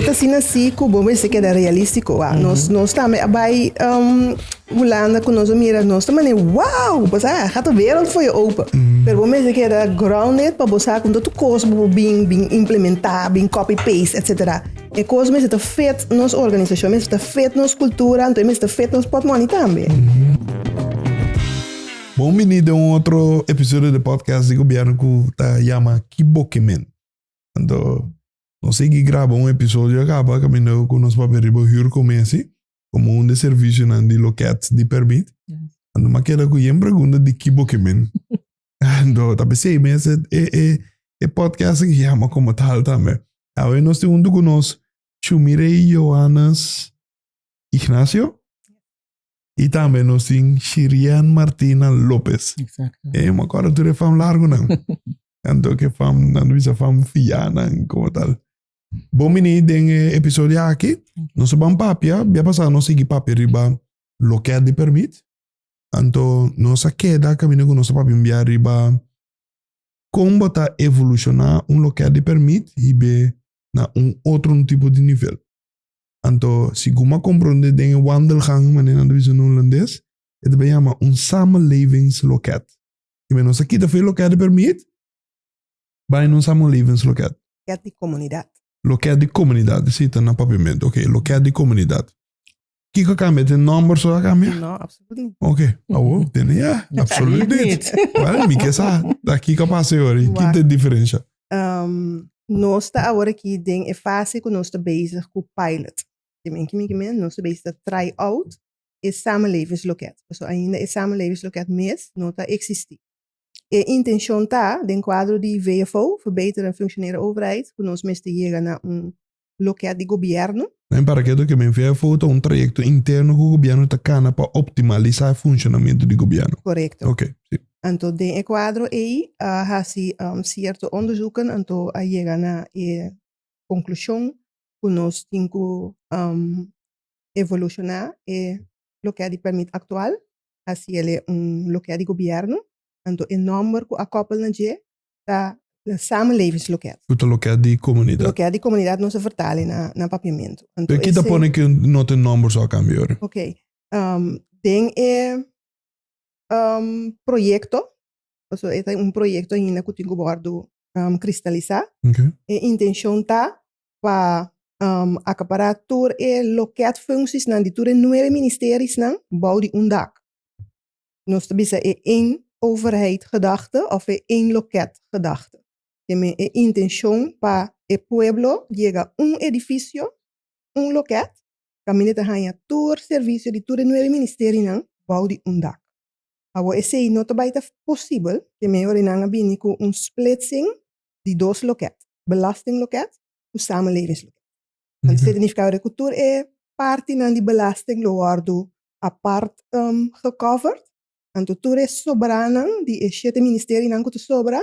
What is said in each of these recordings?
Ta asina si cu bo mester keda realistico. Wak, nos, nos tambe a bai um, Hulanda cu nos a mira nos ta mane, wow, bo sa, gaat de wereld voor je open. Pero bo mester keda grounded pa bo sa cu no ta cos bo bo bin, bin implementa, bin copy-paste, etc. E cos mester ta fit nos organisacion, mester ta fit nos cultura, anto e mester ta fit nos potmoni tambe. Bon bini den un otro episodio di podcast di Gobierno cu ta yama Kibokimin. Anto, nos sigui graba un episodio a kaba kaminda ku nos papia riba hür ku Messi komo un di e servisionan di lokèt di pèrmit. Anto m'a keda ku yen pregunta di ki bo ke men. Anto, ta p'esei mes e podcast aki yama komo tal tambe. Awe nos tin huntu ku nos Shumirey Johannes Ignacio. Y tambe nos tin Shirian Martina Lopez. Exacto. Eh, me acuerdo tú de fam largo, nan. Tanto que fam, nan visa fam fia, nan, como tal. Bom mini den eh, episodio aquí. No se van papia, ya pasado no sigui papia riba lo que de permit. Anto no se queda camino con nos papia via riba con bota evoluciona un lo que de permit y be na un otro un tipo de nivel. Anto, si Guma komprondé den e wandelgang, manera nan ta bisa na Hulandes, e ta bai yama un samenlevingsloket. I me nos a kita fe loket di permit bai na un samenlevingsloket. Loket di komunidat. Loket di komunidat, esei ta na papiamento. Oke, loket di komunidat. Kiko a kambia? Te nòmber so a kambia? No, apsoluut nit. Oke, awo tene ya. Apsoluut nit. Wèl, mi ke sa ta kiko a pasa e ora i ki ta e diferensha. Nos ta awor aki den e fase ku nos ta bezig ku pilot. Di men ki men ki men nos ta bezig ta try out e samenlevingsloket. Paso ainda e samenlevingsloket mes no ta eksistí. E intenshon ta, den kuadro di VFO, Verbeteren Functioneren Overheid, ku nos mester yega na un loke a di Gobierno? Mi para ke loke mi vea foto ta un trayekto interno ku Gobierno ta kana pa optimalisá e funshonamentu di Gobierno. Korekto. Oke. Si. Anto den e kuadro ei a hasi sierto onderzoeken anto a yega na e konklushon ku nos tin ku evolushoná e loke a di pèrmit aktual hasiel e un loke a di Gobierno, anto e nòmber ku a kòpel na dje ta na samenlevingsloket. Ku ta loket di komunidat. Loket di komunidat nos a vertale na na papiamentu. Anto e. Pe ki ta pone ke no tin nòmber so a kambia ora? Ok. Den e proyekto, paso e ta un proyekto ainda ku tin ku wòrdu kristalisá. Ok. E intenshon ta pa akapará tur e loket fungsiesnan di tur e nuebe ministerisnan bou di un dak. Nos ta bisa e één overheid gedachte of e één loket gedachte. Te me e intencion pa e pueblo yega un edificio, un loket, caminda ta haña tur servicio di tur e nuebe ministerienan bou di un dak. Awor esei no ta bai ta posibel, te me ora nan a bini cu un splitsing di dos loket, belastingloket cu samenlevingsloket. Nan di significado de cu tur e partinan di belasting lo wordo apart gecovered. Anto tur e sobranan di e shete ministerinan cu ta sobra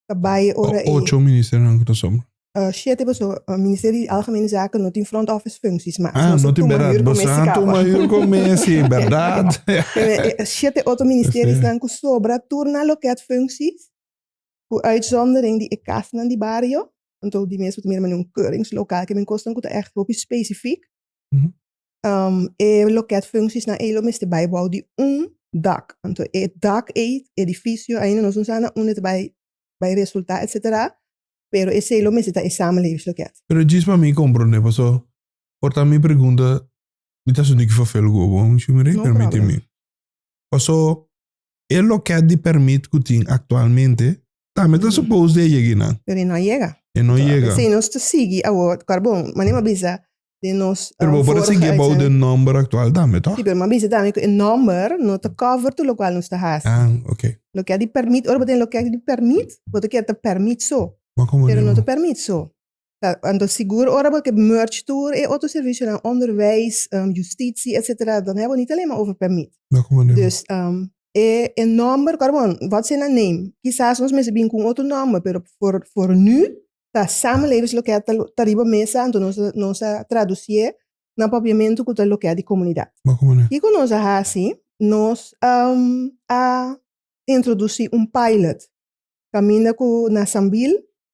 ta bay e ora e. Ocho ministerinan cu ta sobra. Shete paso Ministerio di Algemene Zaken no tin front office functies mas nos a tuma hür cu Messi caba. Tuma hür cu Messi berdad. E shete otro ministerinan cu sobra tur na loket functies cu uitzondering di e casnan di bario. Anto di mes bo ta mira manera un keurings lokal ke mi kosnan ku ta ègt hopi spesifik. E loket funsiesnan ei lo mester bai bou di un dak. Anto e dak ei, e edifisio ainda nos no sa na unda ta bai bai resultá etsetera, pero esei lo mester ta e samenlevingsloket. Pero djis pa mi komprondé pasó por ta mi pregunta mi ta assuntu ki fafel ku bo, mi shumi rei permiti mi. Pasó E loket di permit ku tin aktualmente tambe ta supos di a yega eynan. Pero e no a yega. E no yega. Esei nos ta sigui awor, kòrda bo manera mi a bisa den nos vorige uitzending. Pero bo por a sigui abou di e nòmber aktual tambe, tòg? Si, pero mi a bisa tambe ku e nòmber no ta kòver tur lokual nos ta hasi. Ah, oke. Loket di permit, ora bo ta den loket di permit, bo ta kere ta permit so, pero no ta permit so. Anto sigur ora bo ke merge tur e otro servisionan, onderwijs, justitie, etcetera, dan hei bo nit alenma over permit. Na ku manera? Dus e nòmber ku ora bo God save na name, kisas nos mester bini ku un otro nòmber, pero for for nu ta samenlevingsloket ta ta riba mesa, anto nos a nos a tradusie na papiamentu ku ta loket di komunidat. Na ku manera? Kiko nos a hasi? Nos a introdusi un pilot kaminda ku na Sambil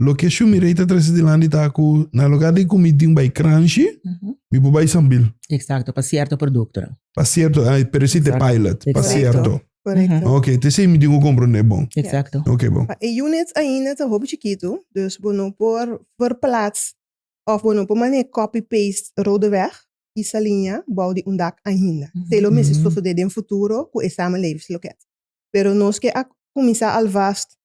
Loke Shumi Rey ta trese dilanti ta ku na lugar di ku mi tin un bai crunchy, mi por bai sambil. Exacto, pa cierto productonan. Pa cierto, pero ese ta pilot, pa cierto. Correcto. Ok, ta esei mi tin ku comprende bon. Exacto. Ok bon. Pa e units ainda ta hopi chikitu, dus bo no por verplaats of bo no por maneha copy paste Rodeweg y Saliña bou di un dak ainda. Esei lo mester sosode den futuro ku e samenlevings lo keda. Pero nos ke a kuminsa alvast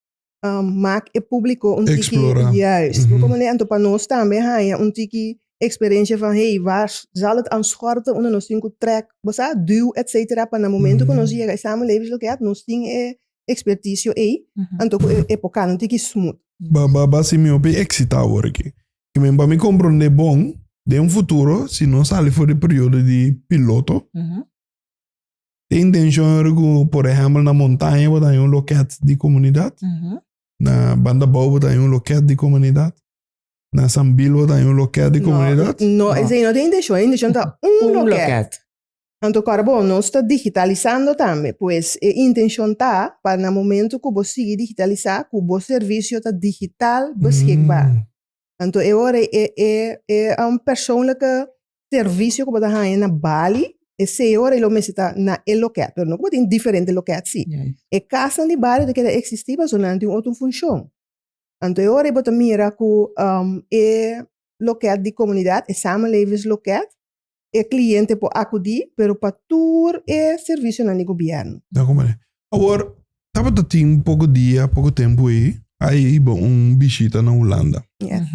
um, mak e públiko un tiki... Explora. Juist. Mm -hmm. Anto pa nos tambe haña un tiki experiencia van hey, waar zal het aan schorten onder nos tinku trek, bosa duw, et cetera, pa na momento mm -hmm. nos llega e samenlevingsloket, nos tin e expertisio ei, mm -hmm. anto e, e pokal un tiki smooth. Ba, ba, ba, si mi hopi exita worki. I men pa mi compronde bon, den futuro, si nos sali for di periodo di piloto, mm -hmm. Te intención ora cu, por ejemplo, na montaña bo ta hay un loket di comunidad. Ujú. Na banda bou bo ta hay un loket di comunidad. Na Sambil bo ta hay un loket di comunidad. No, no, esei no ta e intencion. E intencion ta un Un loket. loket. Anto kòrda bo, nos ta digitalisando tambe. Pues e intencion ta pa na momento cu bo sigui digitalisá, cu bo servicio ta digital beschikbaar. Mm. Anto e ora e e e a un persoonlijke servicio ku bo ta haña na Bali, e seis ora e lo mester ta na e loket, pero no ku bo tin diferente loket si. E kasnan di Bali ta keda eksistí pasobra nan tin otro funshon. Anto e ora bo ta mira ku e loket di komunidat, e samenlevingsloket, E cliente por acudi pero pa tur e servicionan di gobierno. Ta como e. Awor, tabata tin poco dia, poco tempo ey, a hiba un bishita na Hulanda. Yes.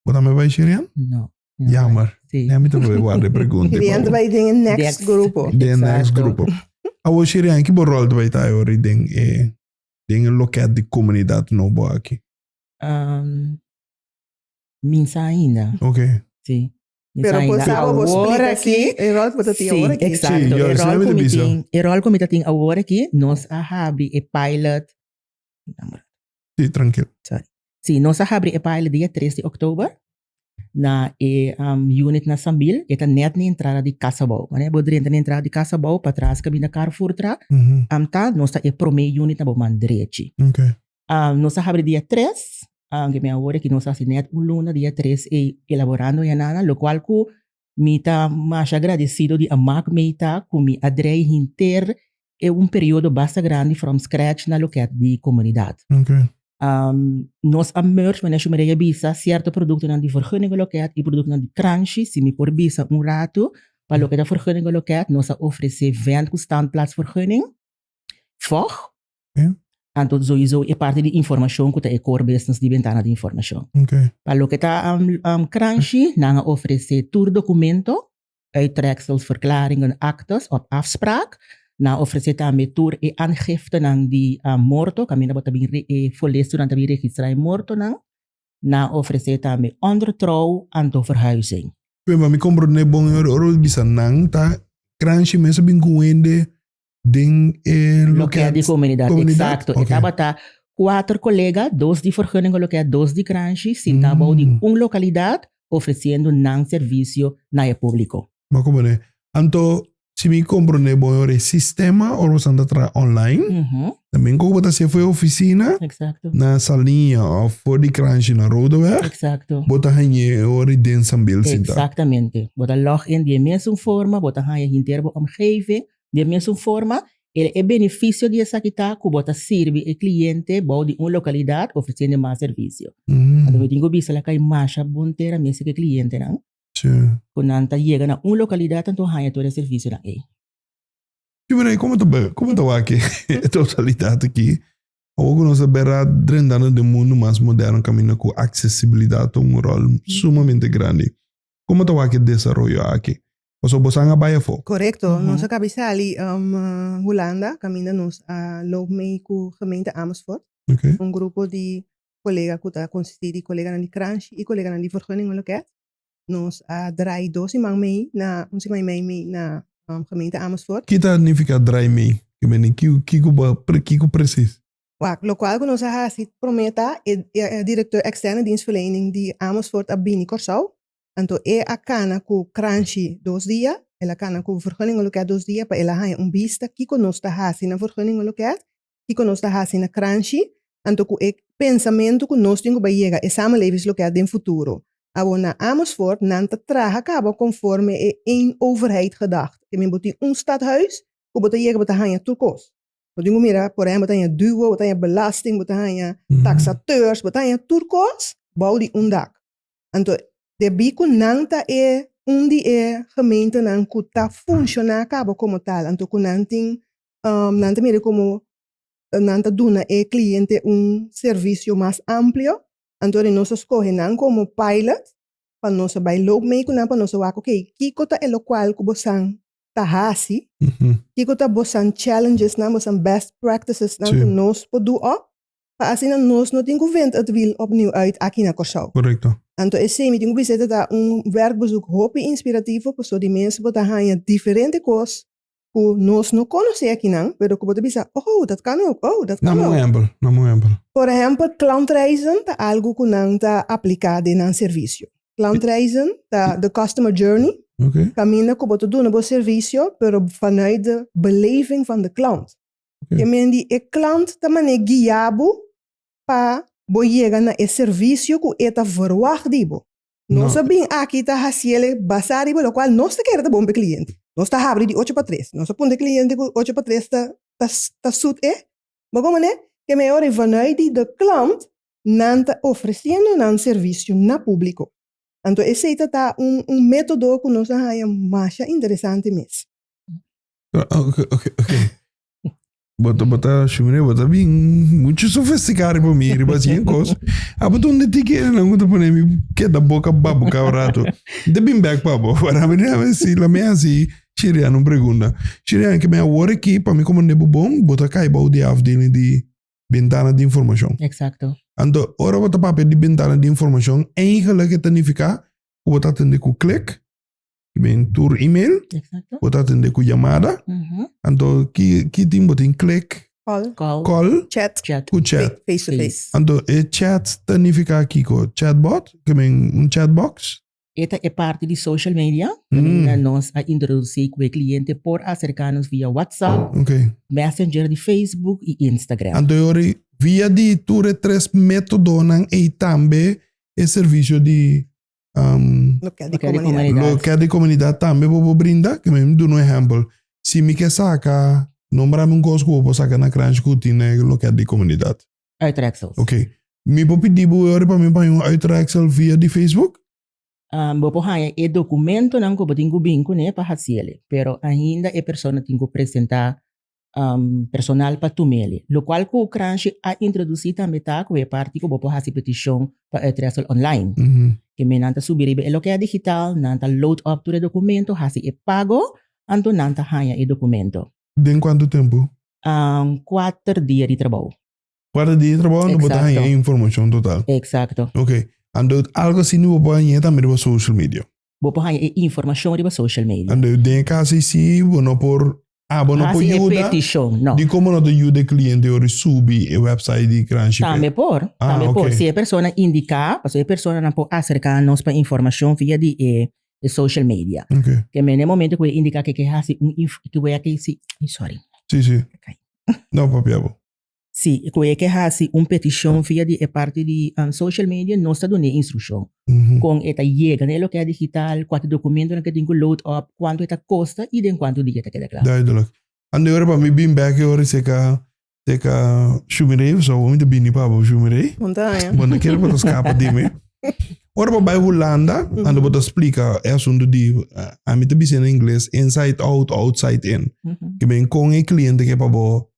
Bo tambe bay Sherian? No. Jammer. Si. Nen mi ta probe guarda e pregunta. Sherian ta bay den e next grupo. Den e next grupo. Awor Sherian, ki bo rol ta bay ta ayora den e, den e loket di comunidad nou bo aki? Misa ainda. Ok. Si. Pero bo sa bo bo splita aki e ròl ku bo ta tin awor aki. Sí, yo asina mi ta bisa. E ròl ku mi ta tin awor aki, nos a habri e pilot, Sí, trankil. Sorry. Sí, nos a habri e pilot dia tres di oktober na e unit na Sambil, e ta nèt na entrada di Kasabou. Wanneer bo drenta na entrada di Kasabou patras kaminda Carrefour tra, Amta, nos ta e promé unit na bo man drechi. Okay. Um, nos a habri dia tres, um, ke mi a hoorde ke nos a hasi net un luna, dia tres ei elaborando e anana, lo cual cu mi ta masha agradecido di Amak mei ta cu mi a drei hinter e un periodo basta grandi from scratch na loket di comunidad. Oké. Um, nos a merge, meneer Shumerey a bisa, cierto productonan di vergunnige loket y productonan di transhi, si mi por bisa un rato, pa loke ta vergunnige loket, nos a ofrece vent cu standplaatsvergunning, vog, Anto zoizo e parti di informashon ku ta e core business di Bentana di Informashon. Pa loke ta kranshi nan a ofresé tur dokumento, uittreksels, verklaringen, aktes òf afspraak. Nan a ofresé tambe tur e aangiftenan di morto kaminda bo ta bin folesto nan ta bin registrá e mortonan. Nan a ofresé tambe ondertrou anto verhuizing. Pemba mi komprondé bon e ora bo bisa nan ta kranshi mester bin kuhende den e loket di komunidat. Eksakto. E tabata kuater kolega, dos di Vergunningen Loket, dos di Granshi, sintá bou di un lokalidat ofresiendo nan servisio na e públiko. Bo komoné. Anto, si mi komprondé bon ora e sistema ora boso ta traha online, tambe koko bo ta hasié for e ofisina na Saliña òf for di Granshi na Roodeweg, bo ta hañ'é ora den Sambil sintá? Eksaktamente. Bo ta lòg in di e mesun forma, bo ta haña hinter bo omgeving, Di e mesun forma, el e benefisio di esaki ta ku bo ta sirbi e kliente bou di un lokalidat ofresiendo mas servisio. Anto mi tin ku bisa la kai masha bon ter a mester ku e klientenan ku nan ta yega na un lokalidat anto haña tur e servisionan ei. Si Mirai, komo ta bai? Komo ta wak e totalidat aki? Awor ku nos a bira drentando den mundu mas moderno kaminda ku aksesibilidat ta un ròl sumamente grandi, Como ta wak e desaroyo aki? Pasobra bo san a bai afo. Correcto. Nos a cabi sali Hulanda caminda nos a loop mee cu gemeente Amersfoort. Un grupo di colega cu ta consisti di coleganan di Kranshi y coleganan di Vergunning en Loket. Nos a draai dos siman mee na un siman y meey mee na gemeente Amersfoort. Ki ta nifica draai mee? Kico precies? Locual cu nos a haci prome ta e director externo di dienstverlening di Amersfoort a bini Corsou, anto e a cana cu Cranchi dos dia, el a cana cu Vergunningen Loket dos dia pa el a haña un bista kico nos ta haci na Vergunningen Loket, kico nos ta haci na Cranchi, anto cu e pensamento cu nos tin cu bay yega e Samenlevings Loket den futuro. Awor na Amersfoort nan ta traha caba conforme e een overheid gedacht, temer bo tin un stadhuis cu bo ta yega bo ta haña tur cos. Bo tin ku mira, por ehèmpel, bo ta haña duo, bo ta haña belasting, bo ta haña taksators, bo ta haña tur kos bou di un dak. Anto debí ku nan ta e un di e gementenan ku ta funshoná kaba komo tal, anto ku nan tin, nan ta mira komo nan ta duna e kliente un servisio mas amplio, anto nos a skohe nan komo pilot pa nos a bai loop mee ku nan pa nos a wak, oke, kiko ta elokual ku bo san ta hasi? Kiko ta bosan challengesnan, bosan best practicesnan ku nos por do òf pa asina nos no tin ku vent et wiel opnieuw uit aki na Kòrsou? Korekto. Anto esei mi tin ku bisa ta ta un werkbezoek hopi inspirativo paso di mes bo ta haña diferente kos ku nos no konosé akinan pero ku bo ta bisa, Oh, dat kan òk, oh, dat kan òk. Dam un ehèmpel, dam un ehèmpel. Por ehèmpel, klantreizen ta algu ku nan ta apliká den nan servisio. Klantreizen ta de customer journey, okay. kaminda ku bo ta duna bo servisio, pero vanuit de beleving van de klant. Okay. Ke men di e klant ta mane guia bo pa bo yega na e servisio ku e ta verwacht di bo. Nos no. a bin aki ta hasi ele basa riba lokual nos ta kere ta bon pa e kliente. Nos ta habri di ocho pa tres. Nos a puntra e kliente ku ocho pa tres ta ta ta sut e. Bo kon mané? Ke men ora e vanuit di de klant nan ta ofreciendo nan servicio na publico. Anto esey ta ta un un metodo cu nos a haya masha interesante mes. Oke, oke, oke. Bo ta, bo ta, Shimre, bo ta bin mucho sofisticado riba mi, riba si en cos. Abo donde ti que nan ku ta pone mi keda boca babu cada rato. Ta bin back pa bo, para mi na si la me hasi Shirian un pregunta. Shirian, ke me a wor aki, pa mi como nebu bon, bo ta cai bou di afdeling di bentana di informashon. Eksakto. Anto, ora bo ta papia di bentana di informashon, eingelik e ta nifiká ku bo ta atendé ku klik, ki bin tur email, bo ta atendé ku yamada. Anto, ki ki tin bo tin? Klik, kòl, chat, ku chat, face to face. Anto, e chat ta nifiká kiko? Chatbot, ki bin un chatbox? E ta e parti di social media manera nos a introduci cu e cliente por acerca nos via WhatsApp, Messenger di Facebook y Instagram. Anto yori via di tur e tres metodonan ey tambe e servicio di loket di comunidad tambe bo por brinda? Kico mi duna un ehempel, si mi ke saca, nombrami un cos cu bo por saca na Cranchi cu tin na e loket di comunidad. Uitreksels. Ok. Mi por pidi bo ora pa mi baña un uitreksel via di Facebook? Bo por haña e dokumentonan ku bo tin ku bin kuné pa hasi el'e, pero ainda e persona tin ku presentá personal pa tuma el'e. Lokual ku Cranshi a introdusí tambe ta ku e parti ku bo por hasi petishon pa uitreksel online. Ku menan ta subi riba e lokea digital, nan ta load up tur e dokumento, hasi e pago, anto nan ta haña e dokumento. Den kuantu tempu? Kuater dia di trabou. Kuater dia di trabou anto bo ta haña e informashon total. Eksakto. Ok. Anto algu así nu bo por hañae tambe riba social media. Bo por haña e informashon riba social media. Anto den e kaso así bo no por hasi e petishon, no. Di kon bo no ta yuda e kliente ora e subi e wèpsait di Kranship? Tambe por. Tambe por. Si e persona indiká, pasobra e personanan por aserká nos pa informashon via di e e social media. Okay. Ke mene momento ku e indika ke ke hasi un inf ke we aki si sorry. Si si. Okay. No papi abo. Si ku e ke hasi un petishon via di e parti di um, social media no sta done instrukshon. Mm-hmm. Kon e ta yega na e lokia digital, kuantu dokumento na ke tin ku load up, kuantu e ta kosta i den kuantu dia ta keda kla. Duidelijk. Ande ora pa mi bin bek e ora i seka Teka shumirei of zo, mi ta bini pa bo shumirei. Bo no kere pa ta skapa di mi. Ora bo bai Hulanda, ando bo ta splika e asuntu di, a mi ta bisa na ingles, inside out, outside in. Ke men kon e kliente ke pa bo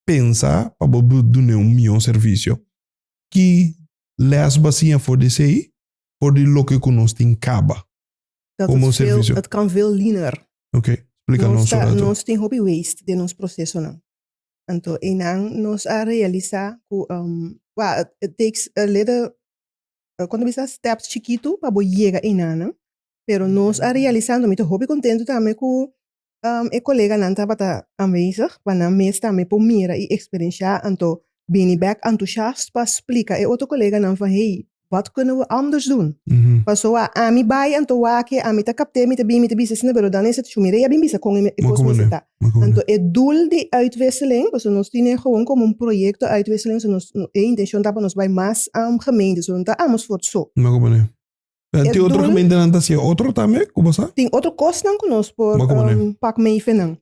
pensa pa bo dun'é un mihó servisio. Ki lès bo a siña for di esei? For di loke ku nos tin kaba. Dat Como het veel, servicio? het kan veel leaner. Ok, splica nos ta- un rato. nos tin hopi waste den nos procesonan. Anto einan nos a realisa cu um, wa, it, it takes a little, uh, con ta bisa steps chikitu pa bo yega einan, pero nos a realisa, anto mi ta hopi contento tambe cu E koleganan tabata anwezig, pa nan mes tambe por mira i eksperensiá. Anto bini bèk entusiast pa splika e otro koleganan van, Hey, wòt kunnen we anders doen? Paso a ami bai, anto wak-e ami ta kapt'é, mi ta bin, mi ta bisa esina berodan e situashon, mi rei a bin bisa kon e kos mester ta. Anto e dul di uitwisseling, paso nos tine gewoon komo un proyekto uitwisseling, so nos e intenshon ta pa nos bai mas gemeentes, so no ta amos for so. En tin otro gementenan ta hacia otro tambe, como sa? Tin otro cosnan que nos por um, pak meifenan.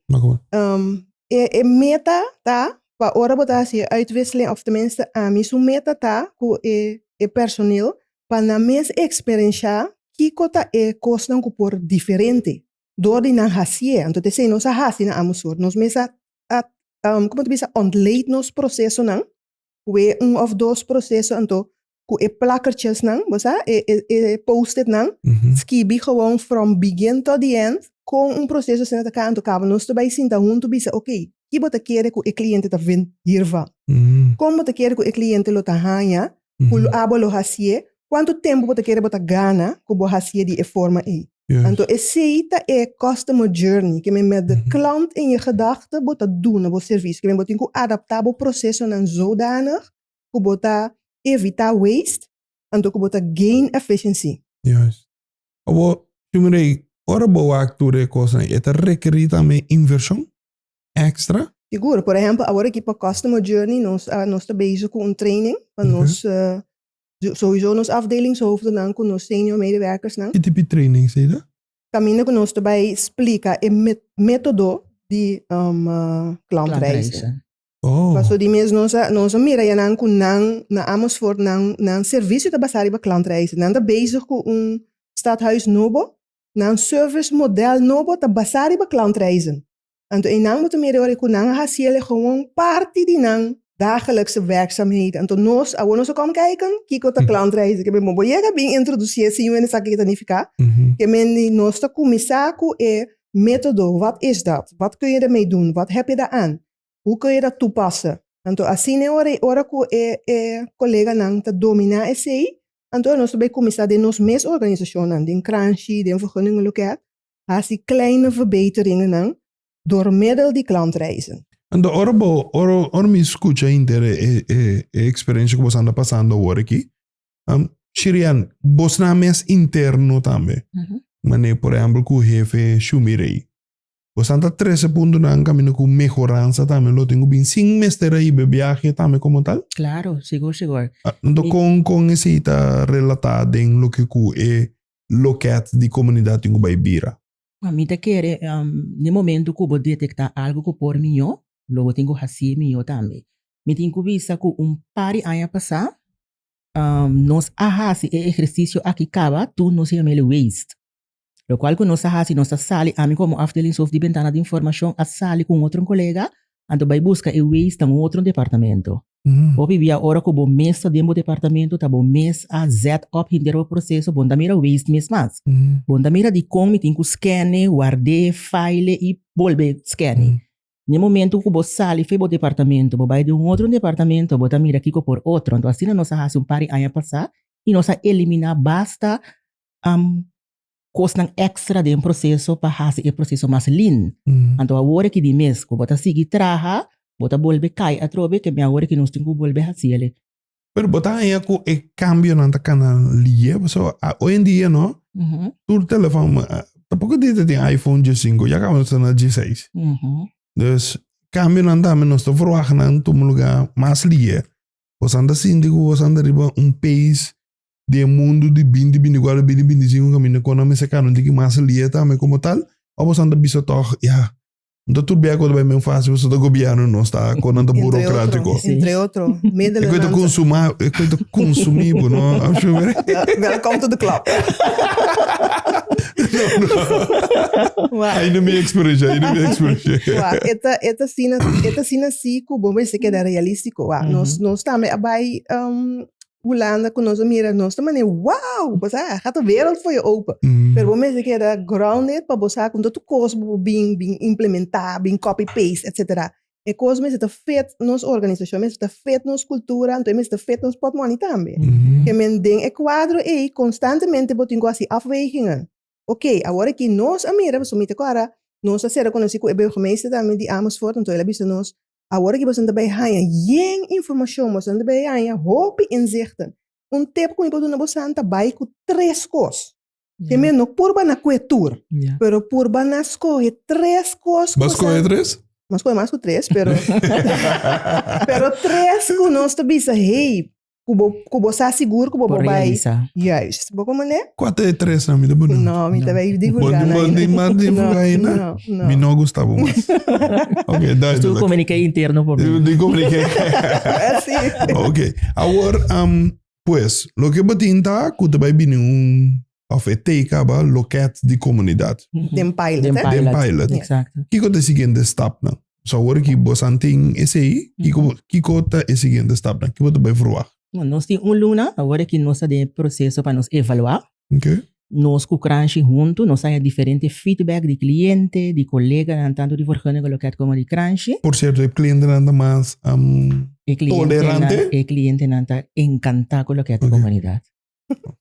Um, e, e meta ta pa ora bota hacia uitwisseling of tenminste ami su meta ta ku e e personeel pa na mes experiencia kiko ta e cosnan ku por diferente door di nan hacia. Anto te sei nos a hasi na amo sor. Nos mes a, a um, como te bisa ontleed nos procesonan we un of dos proceso anto cu e plakertjes nan, bo sa, e, e, e post-it nan, skibi gewoon from begin tot the end, con un proceso asina ta kantu kaba. Nos ta bai sinta huntu bisa, ok, ki bo ta kere cu e cliente ta vind hiervan? Con bo ta kere cu e cliente lo ta haya cu lo, abo lo hacié? Cuanto tempo bo ta kere bo ta gana cu bo hacié di e forma ey? Anto esey ta e customer journey, ke men met de klant in je gedagte bo ta duna bo servicio, ke men bo tin cu adapta bo procesonan zodanig ku bo ta evitá waste anto ku bo ta gain efficiency. Juist. Abo shungri ei, ora bo wak tur e kosnan e ta rekerí tambe invershon èkstra? Sigur. Por ehèmpel awor aki pa Customer Journey nos a nos ta bezig ku un training pa nos souso nos afdelingshoofdennan ku nos senior medewerkersnan. Ki tipi trainings ei ta? Kaminda ku nos ta bai splika e método di klantreizen. Oh. Paso di mes nos a nos a mira ya nan cu nan na Amersfoort nan nan servicio ta basa riba klantreizen. Nan ta bezig cu un stadhuis nobo, nan service model nobo ta basa riba klantreizen. Anto e nan bo ta mira e ora cu nan a haci el e gewoon parti di nan dagelikse werkzaamheden. Anto nos awor nos a kom kijken kico ta klantreizen. Ke men bo bo yega bin introduci e siño en esaki ke ta nifica. Ke men di nos ta cuminsa cu e metodo, wat is dat? Wat kun je daarmee doen? Wat heb je daaraan? Hu ku e ta tupasa. Anto asina e ora, ora ku e e koleganan ta dominá esei, anto nos ta bai kuminsá den nos mes organisashonnan, den kranshi, den vergunningen loket, hasi kleine verbeteringennan dor meddel di klantreizen. Anto ora bo, ora ora mi skucha hinter e e e e eksperensia ku bosan ta pasando awor aki, Shirian, bosnan mes interno tambe, manera por ehempel ku hefe Shumi Rey, Bo san ta trese puntunan kaminda ku mehoransa tambe lo tin ku bin sin mester a hiba e biahe tambe komo tal? Klaro, sigur, sigur. Anto kon kon esei ta relatá den loke ku e lokèt di komunidat tin ku bai bira? Mi ta kere den momentu ku bo detektá algu ku por mihó, lo bo tin ku hasi mihó tambe. Mi tin ku bisa ku un par di aña pasá nos a hasi e ehersisio aki kaba, tur nos yam'e waste. Lokual ku nos ta hasi, nos ta sali, ami komo afdelingshof di bentana di informashon a sali ku un otro kolega, anto bai buska e wees na un otro departamento. Hopi bia ora ku bo mes ta den bo departamento ta bo mes a zet op henter bo proseso, bon ta mira wees mes mas. Bon ta mira dikon mi tin ku skene, ward'é, fail'é i bolbe skene. Na e momentu ku bo sali for bo departamento, bo bai den un otro departamento, bo ta mira kiko por otro. Anto asina nos a hasi un par di aña pasá i nos a eliminá basta kosnan ekstra den proseso pa hasi e proseso mas lind. Anto awor e ki di mes ku bo ta sigui traha, bo ta bolbe kai atrobe, kemia awor e ki nos tin ku bolbe hasi el e. Pero bo ta haña ku e kambionan ta kana liye pasobra a oy en dia no tur telefòn ta poko dia ta tin iPhone dje sinku ya kaba nos ta na dje seis. Dus kambionan tambe nos ta verwagt nan tuma lugá mas liye. Bosan ta sinti ku bosan ta riba un pees di e mundu di binti binti ku a lo bini binti sinku kaminda kon nan mester kano tiki mas lia tambe komo tal ò boso nan ta bisa tòg ya no ta tur bia ku ta bai men fásil boso ta gobièrnu nos ta kon nan ta burokratiko entre otro e ku ta konsuma e ku ta konsumí bo no welcome to the club ai na mi eksperensia ai na mi eksperensia wa e ta e ta asina e ta asina si ku bo mester keda realístiko wa nos nos tambe a bai Hulanda cu nos a mira nos ta manera wow bo sa ha ta wereld for je open pero bo mester keda grounded pa bo sa con todo cos bo been been implementa been copy paste etcetera e cos mester ta fit nos organisacion mester ta fit nos cultura anto e mester ta fit nos potmoni tambe ke men den e cuadro ey constantemente bo tin cu haci afwegingen ok awor aki nos a mira pasobra mi ta cora nos a ser reconoci cu e burgemeester tambe di Amersfoort anto el a bisa nos Awor aki boso ta bay haña yen informacion, boso ta bay haña hopi inzichten. Un tip cu mi por duna boso ta bay cu tres cos. Te meen no purba na cu e tur, pero purba na scoge tres cos. Bo a scoge tres? Bo a scoge mas cu tres, pero tres cu nos ta bisa hey, ku bo ku bo sa sigur ku bo Por bo bai realisá. juist bo komende Kua ta e tres nan mi ta pone? no mi ta bai Bon, divulga di na bon di mas di no Hurgaina, no no mi no gusta bo mas. Ok, Nos duidelijk. tudu komuniké interno por mi. Di komuniké. así Ok, awor, am, pues, loke bo tin ta ku ta bai bini un of e teka ba loket di komunidat. Den pilot, eh? Den pilot. Exacto. Kiko ta e siguiente stapnan? So awor ki bo san tin esei, kiko bo, kiko ta e siguiente stapnan? Ke bo ta bai verwagt? Bon, nos tin un luna awor e ki nos ta den e proseso pa nos evalua. Ok. Nos ku Kranshi huntu nos haña diferente feedback di kliente, di koleganan tantu di Vergunninge Loket komo di Kranshi. Por sierto, e klientenan ta mas tolerante. E klientenan ta enkantá ku loket di komunidat.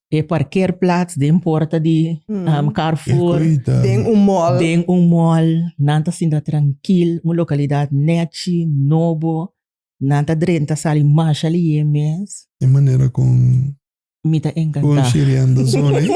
E parkeerplaats den porta di Carrefour. Den un mall. Den un mall. Nan ta sinta trankil. Un lokalidat nèchi, nobo. Nan ta drenta sali masha lihé mes. E manera kon. Mi ta enkantá. Kon sheriando zona ei.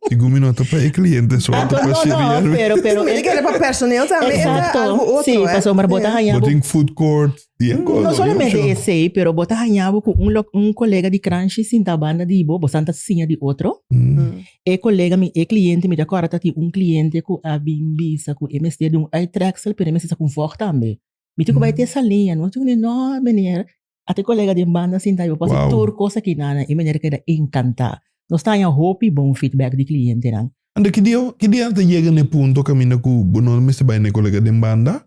Sigun mi no ta pa e kliente so, ta pa sheriar. Mi ta kere pa personel tambe, e ta algu otro. Sí, pasobra bo ta haña. Bo tin food court. No solamente esey, pero bo ta haña bo cu un, un colega di Cranshe sinta banda di bo, bo staan ta siña di otro. Mm. E colega mi, e cliente mi, ta corda ta tin un cliente cu a bin bisa cu e mester di un uittreksel, pero e mester sa cu un vog tambe. Mi tin cu bai te esa liña, no? Tin cu mi, no meneer, a ta e colega den banda sinta di bo, pasa wow. tur cos aki nana. E meneer keda encanta. Nos ta haña hopi bon feedback di clientenan. Anda, ki dia, ki dia ta yega n'e punto caminda cu bo no mester bai n'e colega den banda?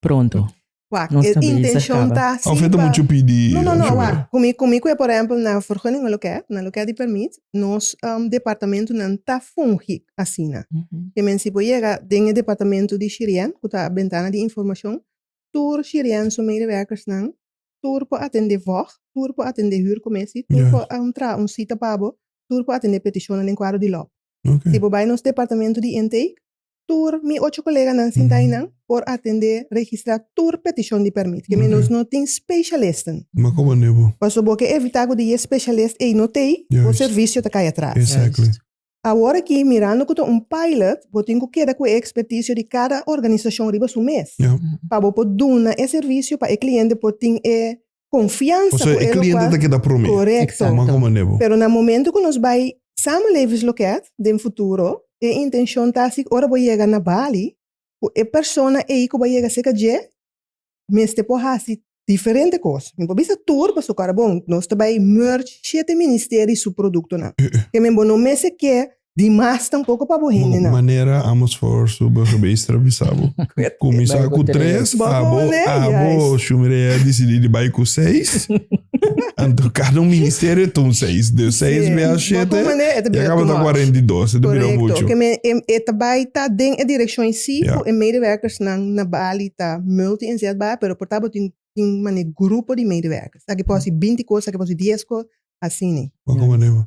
pronto. Wak, e intencion ta si pa. Of e ta mucho pidi. No, no, no, wak. Komi, komi ku e por ehempel na vergunning o loke, na loke di permit, nos departamentunan ta fungi asina. Ke men si por yega den e departamento di Shirien, ku ta bentana di informashon, tur Shirien su medewerkersnan, tur por atende vòg, tur por atende hürkomessie, tur por traha un sita pa bo, tur por atende petishonnan den kuadro di lòb. Si bo bai nos departamento di intake, tur mi ocho koleganan sinta einan por atendé, registrá tur petishon di pèrmit. Kemey nos no tin spesialisten. Ma kon manera bo. Paso bo ke evitá ku di e spesialist ei no t'ei, bo servisio ta kai atras. Exactly. Awor aki, mirando ku ta un pilot, bo tin ku keda ku e ekspertisio di kada organisashon riba su mes, pa bo por duna e servisio pa e kliente por tin e konfiansa ku e lokual. Kòrèkto. Pasobra e kliente ta keda promé. Kòmá ku manera bo. Pero na momentu ku nos bai samen Levi's Loket den futuro, e intenshon ta si ora bo yega na Bali, ku e persona ei ku bai yega serka dje mester por hasi diferente kos. Mi por bisa tur, pasobra ku awe bon nos ta bai merge shete ministeri su produktonan. Ke men bo no mester ke Di mas tampoco pa bo hende nan. Manera amos for su burgemeester bisa bo. Cuminsa cu tres, abo, abo su mireia dicidi di bai cu seis. Anto cada un ministerio ta un seis. De seis bia a shete, ya caba ta cuarenta y dos. Ta bira mucho. Correcto. Keme e ta bai ta den e direccion eysi cu e medewerkers nan na Bali ta multi inzetbaar, pero por ta bo tin tin mane grupo di medewerkers. Aki por hasi binti cos, aki por hasi dies cos, asina. Bo cu manera?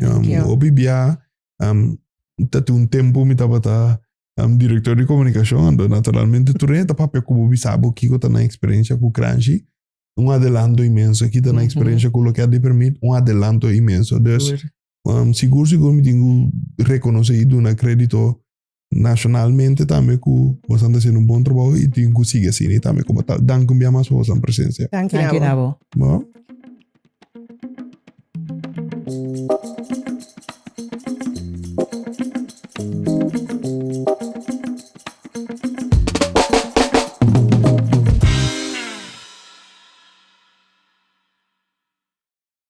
Um, yeah. Hopi bia, um, tatu un tempo mi tabata um, director de comunicación, ando naturalmente tu renta papia como bisabo kiko ta na experiencia ku Kranshi, un adelanto inmenso, kita na experiencia ku lo que ha de permit, un adelanto inmenso. Dus, um, sigur sigur mi tingu reconoce y duna crédito nacionalmente tambe cu vos anda haciendo un bon trabajo y tin cu sigue así ni tambe como tal. Dank un bia mas por vos an presencia. Dank Dank je na abo. Bo?